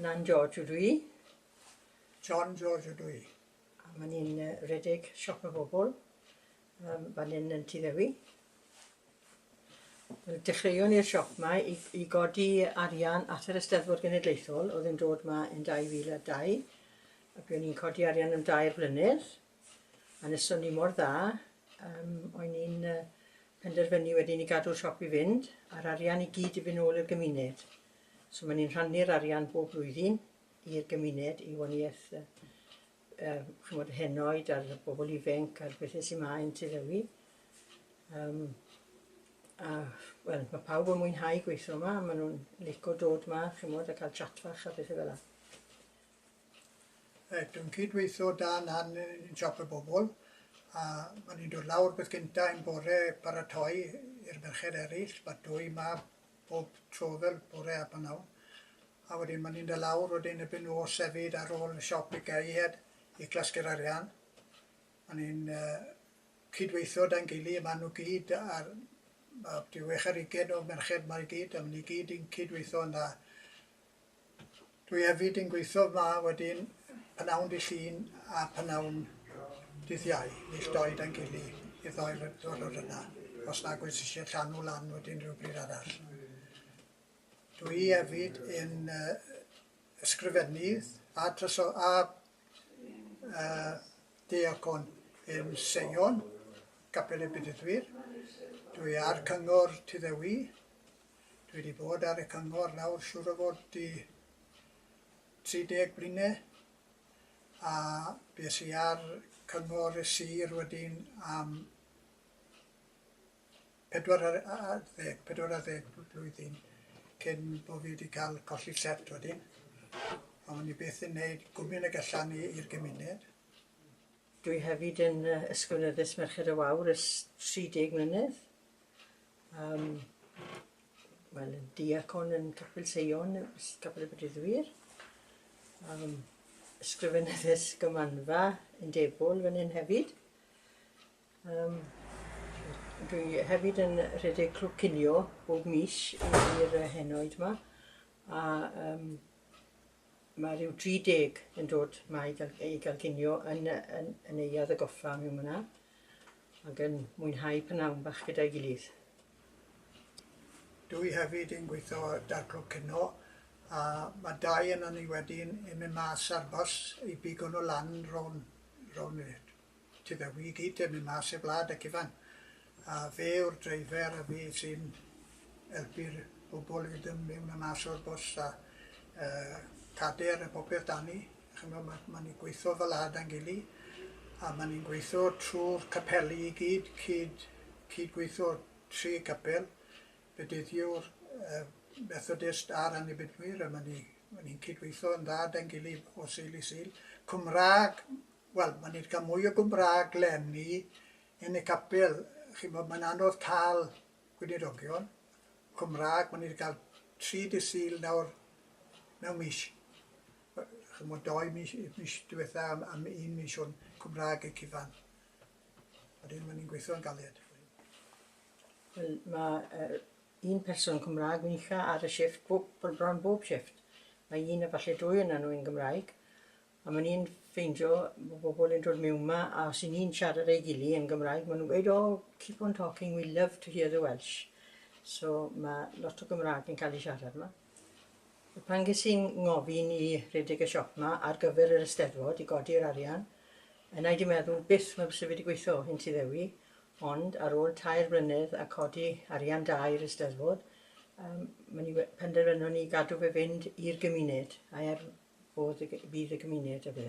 Nan George ydw i. John George ydw i. A maen ni'n uh, redeg siop y bobl um, fan hyn yn Tŷ Ddewi. Dechreuon ni'r siop yma i, i godi arian at yr Eisteddfod Genedlaethol oedd yn dod yma yn 2002. A buon ni'n codi arian am dair blynedd. A wnaethon ni mor dda, yym, o'n ni'n yy penderfynu wedyn i gadw'r siop i fynd, a'r arian i gyd i fynd nôl i'r gymuned. So maen ni'n rhannu'r arian bob blwyddyn i'r gymuned, i waniaeth yy yy ch'mod y henoed a'r bobl ifenc a'r bethe sy 'ma yn Tŷ Ddewi. Yym a wel ma' pawb yn mwynhau gweitho 'ma, ma' nw'n lico dod 'ma ch'mod a ca'l chat fach a bethe fela. Dwi'n cydweithio da nan yn siop y bobl a ma' ni'n dod lawr beth gynta un bore paratoi i'r merched eryll ma' dwy mab bob tro fel bore a prynawn a wedyn ma' ni'n dod lawr wedyn erbyn nos efyd ar ôl y siop i gau hed i clasgu'r arian a ni'n yy cydweithio da'n gily ma' nw gyd ar ma' ryw wech ar ugen o merched ma' i gyd a ma' ni gyd yn cydweithio'n dda. Dwi hefyd yn gweithio yma wedyn pynawn dy Llun a pynawn dydd Iau, nill doi dan gili i'r ddoi ddwrnod yna, os nag wyt eisiau llanw lan wedyn rhywbryd arall. Dwi hefyd yn uh, ysgrifennydd a, traso, a uh, deacon yn Seion, Capel y Bedyddwyr. Dwi ar cyngor Tuddewi, Dwi di bod ar y cyngor nawr siŵr o fod i 30 blyne a bues i ar cyngor y sir wedyn am 40, 40 blwyddyn cyn bod fi wedi cael colli set wedyn. A o'n i beth yn neud gwmyn y gallan i i'r gymuned. Dwi hefyd yn Ysgol Nyddys Merched y Wawr ys 30 mlynedd. Um, Wel, yn diacon yn Capel Seion, Capel y Bryddwyr. Um, ysgrifennydd ysgymanfa yn debol fan hyn hefyd. Um, dwi hefyd yn rhedeg clwb cinio bob mis i'r henoed yma. A um, mae rhyw 30 yn dod mae i gael, i gael cinio yn, yn, yn ei add y goffa mewn yna. ac yn mwynhau pynawn bach gyda'i gilydd. Dwi hefyd yn gweithio ar Darclo Cino a mae dau yna ni wedyn yn mynd mas ar bws i bigo nhw lan rown, rown ti fe wi gyd yn mynd mas i'r blad ac ifan. A fe yw'r dreifer a fe sy'n helpu'r bobl i fynd mewn a mas o'r bws a uh, cader a popeth dani. Ch'mo' ma' ma' ni'n gweitho fel wlad a'n gily a ma' ni'n gweitho trw'r capeli i gyd cyd cyd-gweitho tri capel Bedyddiwr yy Methodist a'r Annibynwyr a ma' ni ma' ni'n cyd-weitho yn dda 'da'n gily o Sul i Sul. Cymra'g wel ma' ni 'di ca'l mwy o Gymra'g leni yn y capel ch'mo' ma'n anodd ca'l gweinidogion Cymra'g ma' ni 'di ca'l tri dydd Sul nawr mewn mis. ch'mod dou mis mis diwetha' am am un mis o'n Cymraeg y cyfan. Wedyn o'n i'n gweithio'n galed. Wel ma' yy un person Cymraeg wynlla' ar y shifft bob br- bron bob shifft. Mae un efalle dwy ona' nhw yn Gymraeg a ma' ni'n ffeindio bo' bobol yn dod miwn 'ma a os 'yn ni'n siarad â'i gily yn Gymraeg ma' nhw'n gweud oh keep on talking we love to hear the Welsh. So ma' lot o Gymraeg yn ca'l ei siarad 'ma. Pan ges i'n ngofyn i redeg y siop 'ma ar gyfer yr Eisteddfod i godi'r arian, yna i di meddwl, byth mae byse fe di gweithio, hyn ti ddewi, ond ar ôl tair blynedd a codi arian da i'r Eisteddfod, um, mae ni penderfynon ni gadw fe fynd i'r gymuned, a er fodd y, fydd y gymuned y fe.